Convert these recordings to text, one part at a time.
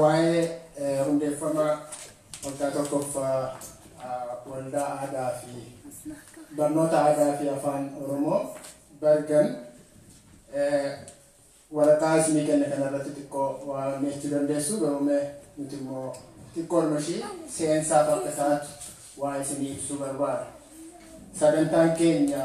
Waa'ee hundeeffama waggaa tokkoffaa Waldaa Aadaa fi Barnoota Aadaa fi Afaan Oromoo Bergen waraqaa isinii kenne kanarratti xiqqoo waa jechuu dandeessu garuu mee nuti immoo xiqqoo dhuma ishii seensaaf akka taatu waa isinii ibsuu barbaada. Sagantaan keenya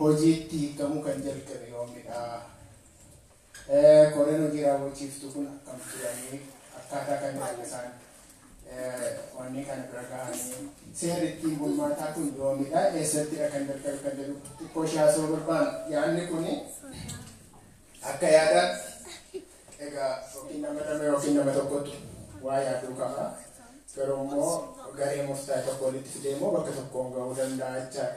hojiitti hiikkamuu kan jalqabe yoomidha? Koreen hojii raawwachiiftuu kun akkam turanii? Akkaataa kamiin isaan wanneen kana bira gahanii? Seerri ittiin bulmaataa kun yoomidha? Eessattidha kan jalqabe kan jedhu xiqqoo ishee haasa'uu barbaanna. Yaadni kun akka yaadaatti egaa yookiin nama lama yookiin nama tokkotu waa yaaduu qaba. Garuu immoo garee murtaa'e tokko walitti fidee immoo bakka tokkoon gahuu danda'a jechaadha.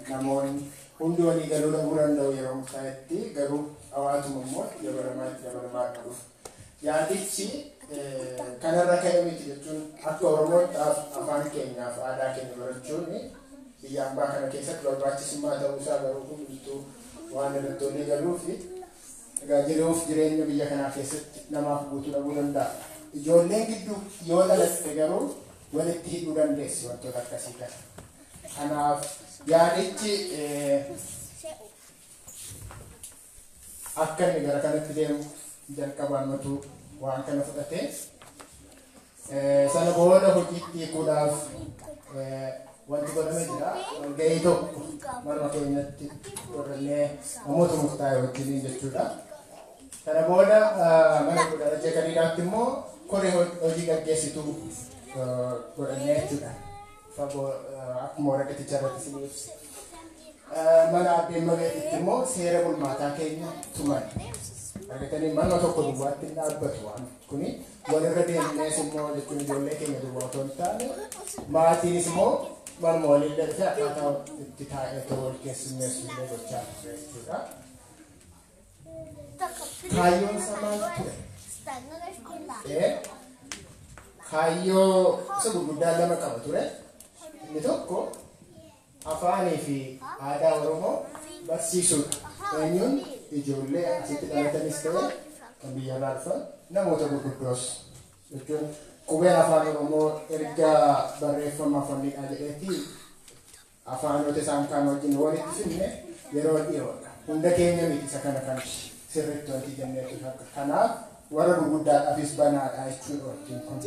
namoon hundi walii galuu dhabuu danda'u yeroo murtaa'etti garuu hawaatuma immoo itti dabalamaa itti dabalamaa akka dhufu. Yaadichi kanarra ka'e miti jechuun akka Oromootti afaan keenyaaf aadaa keenya barachuun biyya ambaa kana keessatti barbaachisummaa ta'uu isaa garuu hundumtuu waan irratti walii galuu fi egaa jiruuf jireenya biyya kanaa keessatti namaaf guutuu dhabuu danda'a. Ijoolleen gidduu yoo dhalatte garuu walitti hidhuu dandeessi wantoota akkasii kana. Kanaaf yaadichi akka inni gara kanatti deemu jalqabaan matuu waan kana fudhate. Sana booda hojiitti hiikuudhaaf wanti godhame jira. Walgahii tokko marma keenyatti godhannee namoota murtaa'e wajjiniin jechuudha. Sana booda mana godhana jeekaniidhaatti immoo koree hojii gaggeessituu godhannee jechuudha. fagoo akkuma waraqaticha irratti isin ibse mana addee mabeetitti immoo seera bulmaataa keenya tuman argatanii manuma tokko duwwaatti hin dhaabbatu waan kuni walirra deemnees immoo jechuun ijoollee keenya duwwaa otoo hin taane maatiinis immoo manuma waliin darbee akkaataa itti taa'ee ta'uu wal keessummeessu illee gochaa turre jechuudha. Kaayyoon isaa maal ture? Ee, Kaayyoo isa gurguddaa lama qaba ture. Inni tokko afaanii fi aadaa Oromoo barsiisuudha. Eenyuun ijoollee asitti dhalatanis ta'e kan biyya irraa dhufan namoota gurguddoos jechuun qubeen afaan Oromoo erga barreeffama afaanidhaa jedheetti Afaanota isaan kaan wajjin walitti fidne yeroo dhiyoodha. Hunda keenya miti isa kana kan sirriitti wanti jennee tufatta. Kanaaf warra gurguddaadhaafis banaadha jechuudha wajjin kun.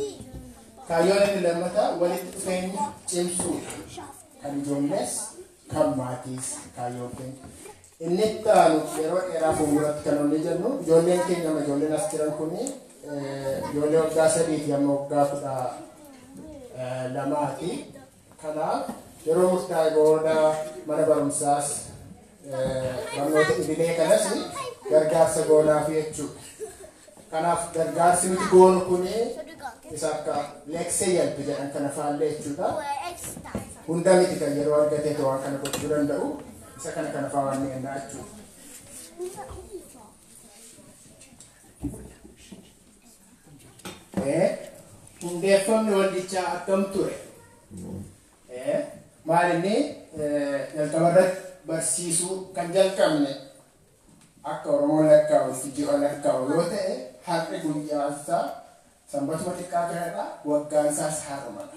Kaayyoon inni lammataa walitti dhufeenya cimsuudha. Kan ijoollees kan maatiis kaayyoon keenya. Inni itti aanu yeroo dheeraa fuulduratti kan olii jennu ijoolleen keenya amma ijoolleen as jiran kun ijoollee waggaa sadiiti amma waggaa kudha lamaati. kana yeroo murtaa'e booda mana barumsaas barnoota idilee kanas gargaarsa goonaaf jechuudha. Kanaaf gargaarsi nuti goonu kun isa akka leeksee yalbi jedhan kana faallee jechuudha. Hunda miti kan yeroo argatee waan kana gochuu danda'u isa kana kana faa waan mi'annaa jechuudha. E. Hundeeffamni waldichaa akkam ture? E. Maalinni jalqaba irratti barsiisuu kan jalqabne akka Oromoon lakkaa'utti ji'a lakkaa'u yoo ta'e har'i guyyaan isaa sanbatuma xiqqaa kanadha waggaan isaas har'umadha.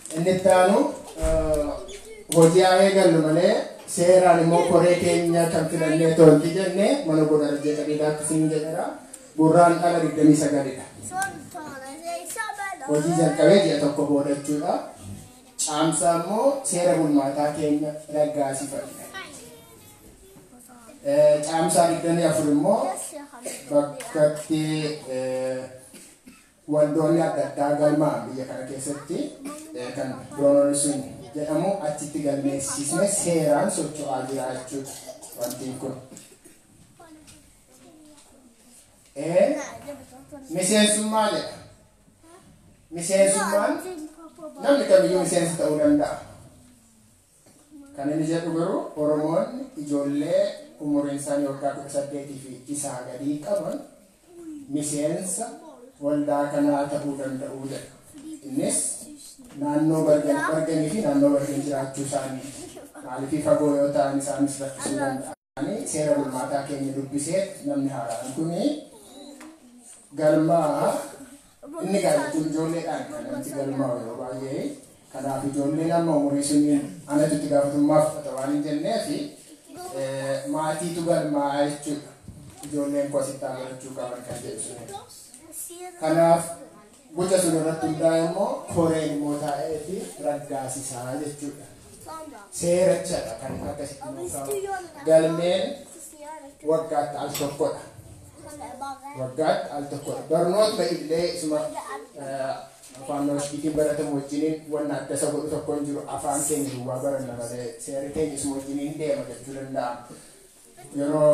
Inni itti aanu hojii haa eegallu malee seeraan immoo koree keenya kan filannee toonti jenne mana goda rajjee qadiidaatti siin jedhera gurraan dhala 29dha. Hojii jalqabee ji'a tokko booda jechuudha. Caamsaa immoo seera bulmaataa keenya raggaasifate. Caamsaa 24 immoo bakkatti Waldoonni adda addaa galma biyya kana keessatti kan Broononusun jedhamu achitti galmeessisne seeraan socho'aa jira jechuudha. Wantiin kun. Miseensummaa jedha. Miseensummaan namni kamiyyuu miseensa ta'uu danda'a. Kan inni jedhu garuu Oromoonni ijoollee umuriinsaanii waggaa 18 fi isaa gadii qaban miseensa waldaa kanaa ta'uu danda'u jedha. Innis naannoo Barganii fi naannoo Barganii jiraachuu isaaniiti. Maaliifii fagoo yoo ta'an isaanis rakkisuu danda'a. Ani seera bulmaataa keenya dubbisee namni haaraan kun galmaa'a. Inni gaa jechuun ijoolleedhaan kan namti galmaa'u yeroo baay'ee. Kanaaf ijoolleen amma umurii suniin anatu itti gaafatamummaa fudhata waan hin jenneef maatiitu galmaa'a jechuudha. Ijoolleen koo asitti haa barachuu qaban kan jedhu suni. Kanaaf Guca sun irratti hundaa'ee immoo koreen immoo taa'ee fi raggaasisaa jechuudha. Seerachadha kan inni akkasitti nuuf kaa'u. Galmeen waggaatti al tokkodha. Waggaatti al tokkodha. Barnoota illee isuma eh, afaan nooshiitiin baratamu wajjiniin wanna adda isa godhu tokko hin jiru. Afaan keenya duwwaa baranna malee seerri keenya isuma wajjiniin deema jechuu danda'ama. Yeroo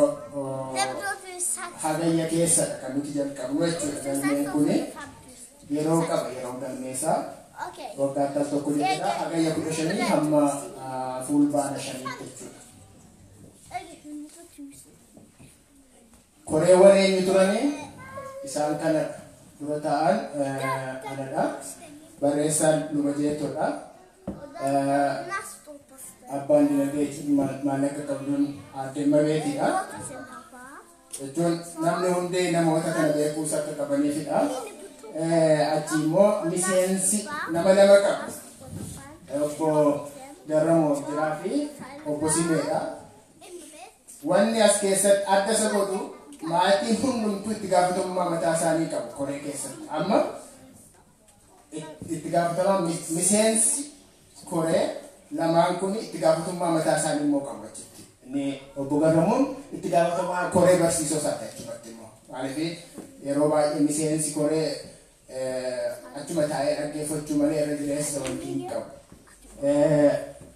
hagayya keessadha kan nuti jalqabnu jechuudha galmeen kun yeroo qaba yeroo galmeessaa waggaatti al tokko jechuudha hagayya kudha shanii hamma fuulbaana shanii jechuudha. Koreewwan eenyu turani? Isaan kanadha. Dura taa'aan anadha. Barreessaan Luba Jeettoodha. Abbaan dinagdee jechuun maallaqa qabduun Aadde Imabeetiidha. Jechuun namni hundee namoota kana beekuus akka qabaniifidha. Achi immoo miseensi nama lama qabu. Obbo Garramoo Jiraa fi Obbo Simeedha. Wanni as keessatti adda isa godhu maatiin hundumtuu itti gaafatamummaa mataa isaanii qabu koree keessatti. Amma it- itti gaafatamaa mi- miseensi koree lamaan kun itti gaafatamummaa mataa isaanii immoo qabu achitti. Inni obbo Garramuun itti gaafatamaa koree barsiisoo isaati achumatti immoo. Maaliif yeroo baay'ee miseensi koree achuma taa'ee dhaggeeffachuu malee irra jireessa wanti hin qabu.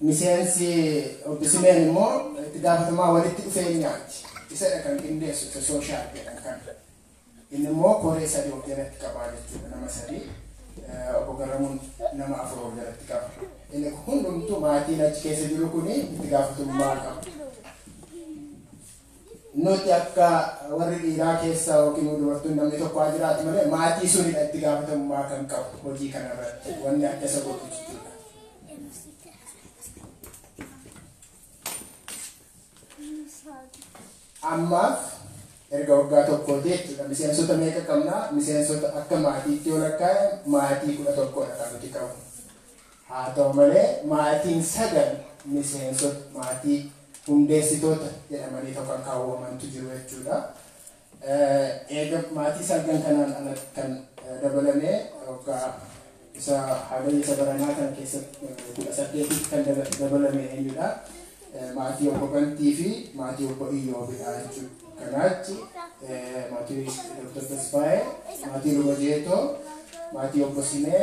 Miseensi obbo Simeen immoo itti gaafatamaa walitti dhufeenyaati. Isadha kan qindeessu isa sooshaal jedhan kan. Inni immoo koree sadii of jalatti qabaa jechuudha nama sadii. Obbo Garramuun nama afur of jalatti qaba. Inni hundumtuu maatiin achi keessa jiru kun itti gaafatamummaa qaba. Nuti akka warri dhiiraa keessa ykn immoo dubartoonni namni tokko haa jiraatu malee maatii sunidha itti gaafatamummaa kan qabu hojii kana irratti wanni adda isa godhu jechuudha. Ammaaf erga waggaa tokkooti jechuudha. Miseensota meeqa qabna? Miseensota akka maatiitti yoo lakkaa'e maatii kudha tokkodha kan nuti qabu. Haa ta'u malee maatiin sagal miseensota maatii hundeessitoota jedhamaniitoo kan kaawwamantu jiru jechuudha. Eega maatii salgan kanaan ala kan dabalame waggaa isa Hagayya isa baranaa kana keessatti 18tti kan dabalame eenyudha? Maatii obbo Bantii fi maatii obbo Iyyoobiidha jechuudha. Kanaachi maatii Dr. Tasfaayee, maatii Luba Jeetoo, maatii obbo Simee,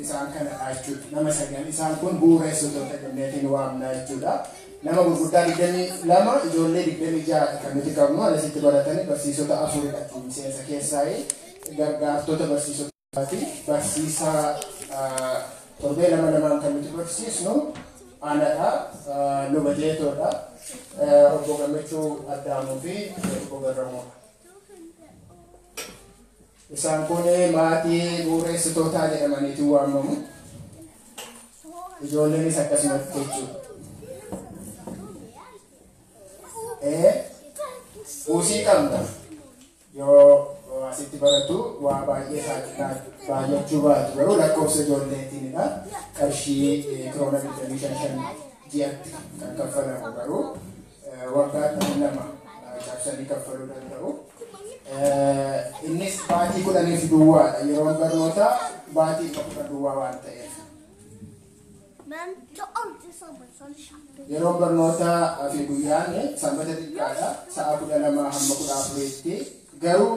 isaan kanadha jechuudha. Nama sagal isaan kun bu'uureessitoota jennee waamna jechuudha. Nama gurguddaa digdamii lama ijoollee digdamii ja'a kan nuti qabnu alasitti baratanii barsiisota afuridha miseensa keessaa gargaartota barsiisotaati. Barsiisaa torbee lama lamaan kan nuti barsiisnu anadha luba jeetoodha obbo gammachuu addaamuu fi obbo garramuudha. Isaan kun maatii bu'ureessitootaa jedhamaniitu waamamu. Ijoolleenis akkasumatti jechuudha. Ee, buusii qabna. Yoo yoo asitti baratu waa baay'ee saaxilaa baay'achuu baatu garuu lakkoofsa ijoolleetiinidha. Qarshii eh, kiroona 25 ji'atti kan kaffalamu garuu waggaatti lama cabsanii kaffaluu danda'u. Innis baatii kudhaniif duwwaadha. Yeroon barnootaa baatii kudhan duwwaa waan ta'eef. Yeroon barnootaa fi guyyaan sanbata xiqqaadha. Sa'a kudha lamaa hamma kudha afuriitti garuu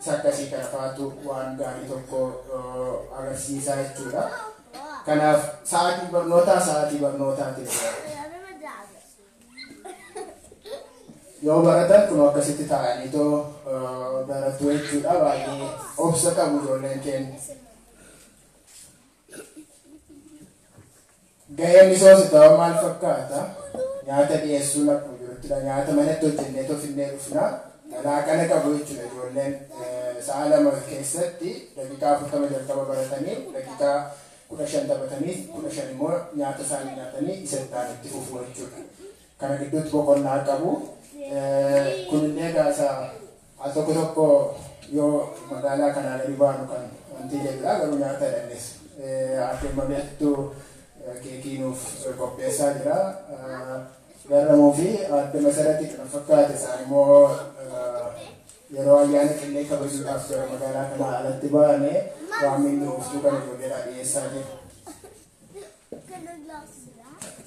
isa akkasii kana faatu waan gaarii tokko agarsiisaa jechuudha. Kanaaf sa'aatiin barnootaa sa'aatii barnootaa ta'e. Yoo baratan kun akkasitti taa'anii too baratu jechuudha baay'ee obsa qabu ijoolleen keenya. Gaheen misoomsitawaa maal fakkaata? Nyaata dhiyeessuun akkuma jiruttidha. Nyaata manatti hojjenneetoo finnee dhufna. Laaqana qabu jechuudha ijoolleen. Sa'a lama keessatti daqiiqaa 40 jalqaba baratanii daqiiqaa 15 taphatanii 15 immoo nyaata isaanii nyaatanii isa itti aanu itti fufu jechuudha. Kana gidduutti boqonnaa qabu. Kunillee egaa isa Al tokko tokko yoo magaalaa kanaa gadi baanu kan wantiilee biraa garuu nyaata jedhannis Aadde Mabeettu keekii nuuf qopheessaa jira. Garramuu fi Aadde Masarati kan fakkaate isaan immoo yeroo ayyaana qillee kabajuudhaaf gara magaalaa kanaa alatti baane waan minni ooftuu kana ijoolleedhaa dhiyeessaa jiru.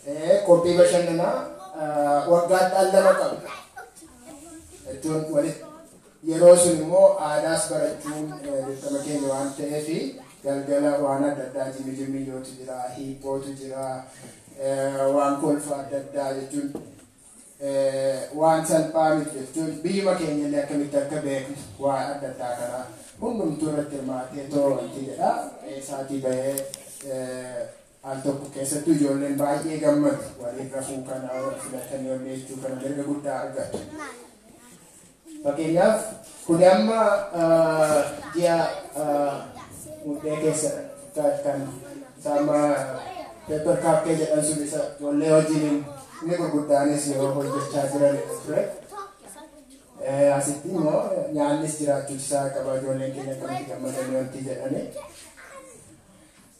Eh, Qophii bashannanaa ah, waggaatti al lama qabna. Jechuun walitti yeroo sun immoo aadaas barachuun eh, dirqama keenya waan ta'eef galgala waan adda addaa jimmi jimmi yootu jira, hiiphootu jira, eh, waan kolfa adda addaa jechuun waan salphaa miti jechuun biyyuma keenyallee akkamitti akka beeknu waan adda addaa kana hundumtuu irratti hirmaatee too wanti jedha eessaatii bahee al tokko keessattuu ijoolleen baay'ee gammadu waliin rafuu kana wal filatanii wal jechuu kana mirga guddaa argatu. Fakkeenyaaf kuni amma ji'a muddee keessa kan isaama paper kaappee jedhan sun isa ijoollee hojiin inni gurguddaanis yeroo hojjechaa jiran ture. Asitti immoo nyaannis jiraachuun isaa qaba ijoolleen keenya akkamitti gammadanii wanti jedhanii.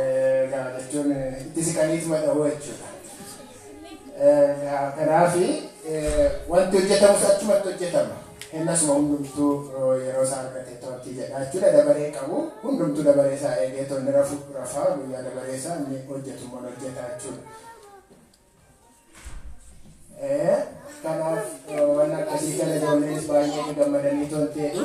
Egaa jechuun itti siqaniituma dhahuu jechuudha. Kanaaf wanti hojjetamus achumatti hojjetama. Hennasuma hundumtuu yeroo isaa argatee to'atti jedha jechuudha. Dabaree qabu hundumtuu dabaree isaa eegee tonni rafu rafaa guyyaa dabaree isaa inni hojjetu immoo hojjetaa jechuudha. Kanaaf waan akkasii kana ijoolleenis baay'ee gammadanii tolteedhu.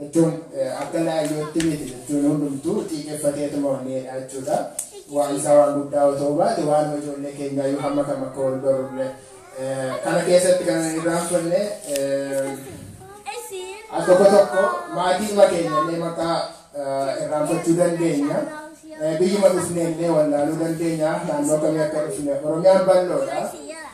Jechuun akka laayyootti miti jechuun hundumtuu xiiqeffateetuma wanneedha jechuudha. Waan isaa waan guddaa otoo baate waan ijoollee keenyaa yoo hamma kam akka wal barullee kana keessatti kan irraanfanne akka tokko tokko maatiidhuma keenyallee maqaa irraanfachuu dandeenya. Biyyuma dhufneellee wallaaluu dandeenya naannoo kamii akka dhufne Oromiyaan bal'oodha.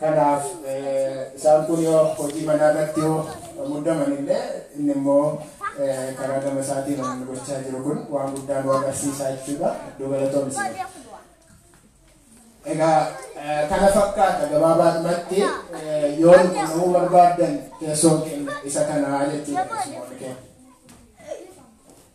Kanaaf isaan kun yoo hojii manaa irratti yoo muddaman illee inni immoo karaa gama isaatiin waan gochaa jiru kun waan guddaa nu agarsiisaa jechuudha. Iddoo galatoomi siree. Egaa kana fakkaata gabaabaadhumatti yoo nu qunnamuu barbaaddan teessoon keenya isa kanaa jechuudha.